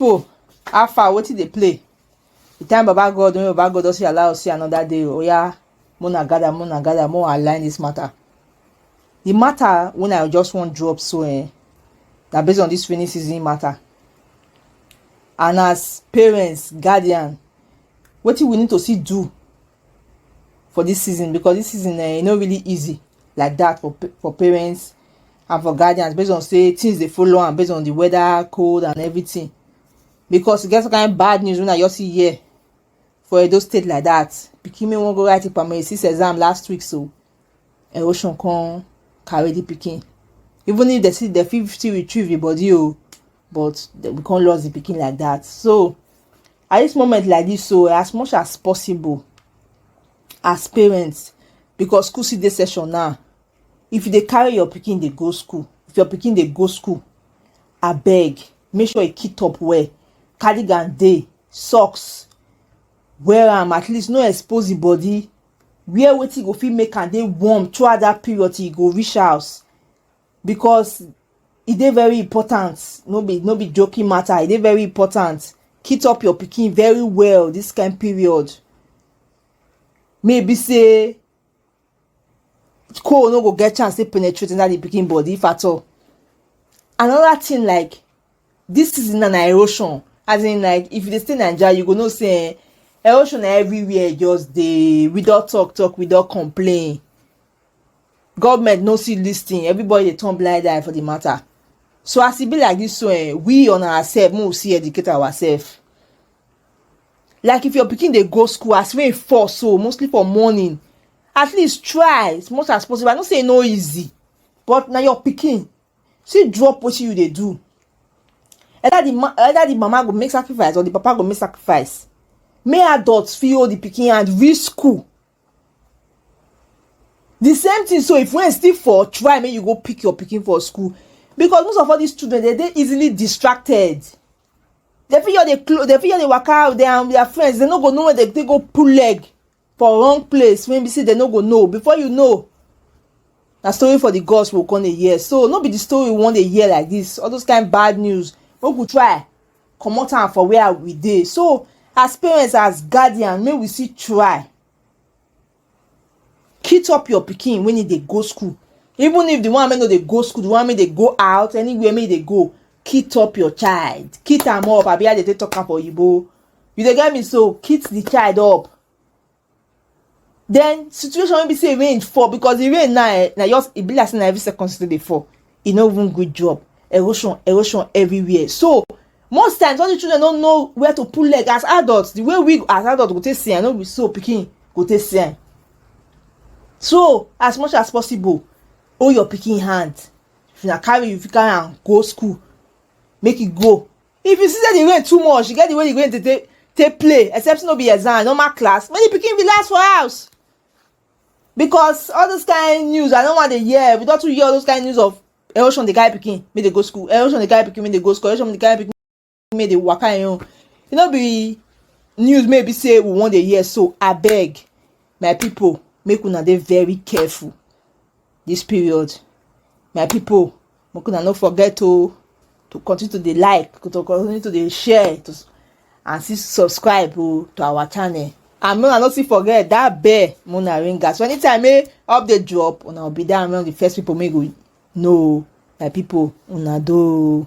people how far wetin dey play the time baba god when baba god don see allow us see another day oya oh, mona gather mona gather mo align this matter the matter when i just wan drop so eh na based on this rainy season matter and as parents guardian wetin we need to see do for this season because this season eh e no really easy like that for for parents and for guardians based on say things dey follow am based on the weather cold and everything because e get some kind bad news wey i just see here for edo state like that pikin wey wan go write im primary six exam last week so erosion come carry the pikin even if dem still dem fit still retrieve the body o but we come lost the pikin like that so at this moment like this so as much as possible as parents because school still dey session now if you dey carry your pikin dey go school if your pikin dey go school abeg make sure you kit up well cardigan dey socks wear am at least no expose the body wear wetin go fit make am dey warm throughout that period till you go reach house because e dey very important no be no be joking matter e dey very important kit up your pikin very well this kind period maybe say coal no go get chance to penetrate inside the picking body if at all another thing like this season na erosion as in like if you dey stay naija you go know say eh, erosion na everywhere just dey we don talk talk we don complain government no see this thing everybody dey turn blind eye for the matter so as e be like this so eh, we on ourselves make we see educate ourselves like if your pikin dey go school as rain fall so mostly for morning at least try as much as possible i know say e no easy but na your pikin still drop wetin you dey do either the ma either the mama go make sacrifice or the papa go make sacrifice make adults fit hold the pikin hand reach school the same thing so if rain still fall try make you go pick your pikin for school because most of all these children dey dey easily distracted They fit just dey close, they fit just dey waka out there and their friends, they no go know where they, they go pull leg for wrong place when be say they no go know. Before you know, na story for the gods will come a year. So no be the story we want a year like this. All those kind bad news. We could try come out and for where we dey. So as parents, as guardian, may we see try kit up your pikin when e dey go school even if the one wey no dey go school the one wey dey go out anywhere wey e dey go kit up your child kit am up abi how dey take talk am for oyibo you dey get me so kit the child up then situation wey be say rain fall because the rain now eh na just e be like say na every second still dey fall e no even good job erosion erosion everywhere so most times all the children no know where to put leg as adults the way we as adults go take see am no be so pikin go take see am so as much as possible hold your pikin hand if na carry you fit carry am go school make e go if you see say the rain too much e get the way the rain dey take take play except no be exam normal class make the pikin relax for house because all those kind news i no wan dey hear we don too hear all those kind news of erosion dey carry pikin make dey go school erosion dey carry pikin make dey go school erosion dey carry pikin make dey waka im own e no be news may be say we wan dey hear so abeg my people make una dey very careful this period my people make una no forget to to continue to dey like to continue to dey share to and still subscribe oh, to our channel and make una no still forget that bell make una ring am so anytime wey eh, update drop una go be there among the first people make go know my people una do.